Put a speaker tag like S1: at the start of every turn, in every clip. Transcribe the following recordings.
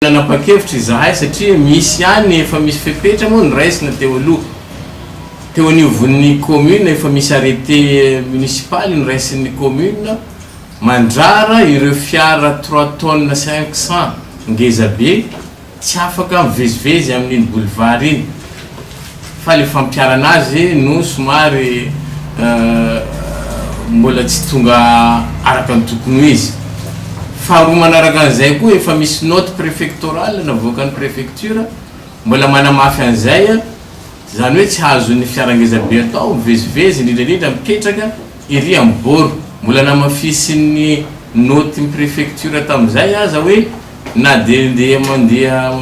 S1: Nanapa-kevitra izahay satria misy ihany ny efa misy fepetra moa noraisina teo aloha. Teo anivon'ny commune efa misy arrêté municipal noraisin'ny commune mandrara ireo fiara trois tonnes cinq cents ngezabe tsy afaka mivezivezy amin'iny boulevard iny. Fa le fampiharana azy no somary mbola tsy tonga araka ny tokony ho izy. Faharoa manaraka an'izay koa efa misy note préfectorale navoakan'ny préfecture mbola manamafy an'izay, izany hoe tsy azon'ny fiara ngezabe atao, mivezivezy indrindra indrindra mipetraka, Ery amin'ny Boro, mbola namafisin'ny naoty ny prefecture tamin'izay aza hoe na dia ndeha mandeha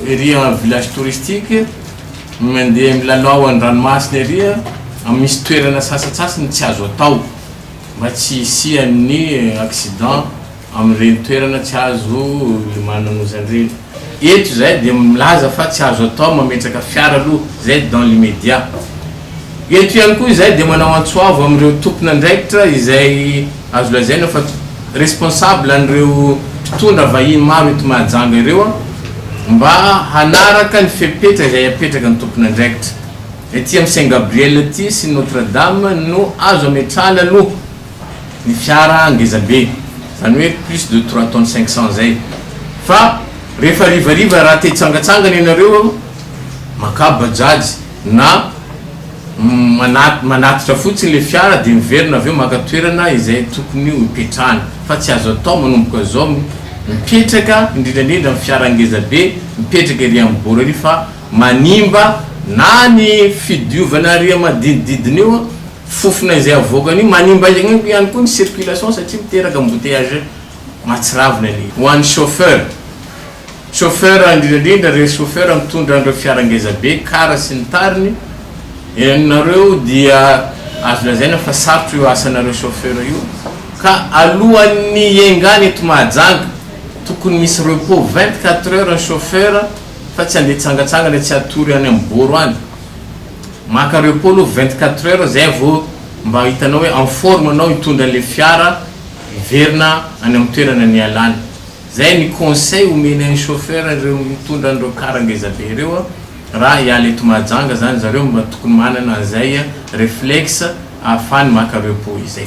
S1: ery amin'ny village touristique, mandeha milalao an-dranomasina ery aho, misy toerana sasatsasany tsy azo atao mba tsy hisian'ny accident. amin'ireny toerana tsy azo ilomananozan'ireny. Eto izay dia milaza fa tsy azo atao mametraka fiara aloha izay dans l'immédiat. Eto ihany koa izay dia manao antso avo amin'ireo tompon'andraikitra izay azo lazaina fa responsable an'ireo mpitondra vahiny maro eto Mahajanga ireo mba hanaraka ny fepetra izay apetraka ny tompon'andraikitra. Ety amin'ny Saint Gabriel ity sy Notre Dame no azo ametrahana aloha. ny fiara ngeza be zany hoe plus de trois tonnes cinq cents zay fa rehefa harivariva raha te hitsangatsangana ianareo ao makà bajaj na manat manatitra fotsiny le fiara de miverina avy eo maka toerana izay tokony ho ipetrahana fa tsy azo atao manomboka zao mi mipetraka indrindra indrindra am fiara ngeza be mipetraka ery am bor ery fa manimba na ny fidiovana ary amadidididina eo Fofona izay avoakan'io, manimba ihany ihany koa ny circulation satria miteraka embouteillage mahatsiravina ny. Ho an'ny chauffeur. Chauffeur indrindra indrindra ireo chauffeur mitondra an'ireo fiara ngeza be, car sy ny tariny, ianareo dia azo lazaina fa sarotra io asanareo chauffeur io ka alohan'ny hiaingàny eto Mahajanga tokony misy repos vingt-quatre heures ny chauffeur fa tsy andeha hitsangatsangana tsy hatory any amin'ny boro any Maka reo polo vingt quatre heures zay vo mba hitanao hoe en forme anao hitondra le fiara hiverina any am toerana nialany. Zay ny conseil omeny any chauffeur reo mitondra anreo car ngeza be reo ra hiala eto Mahajanga zany zareo mba tokony manana anzay reflexe ahafany maka repos izay.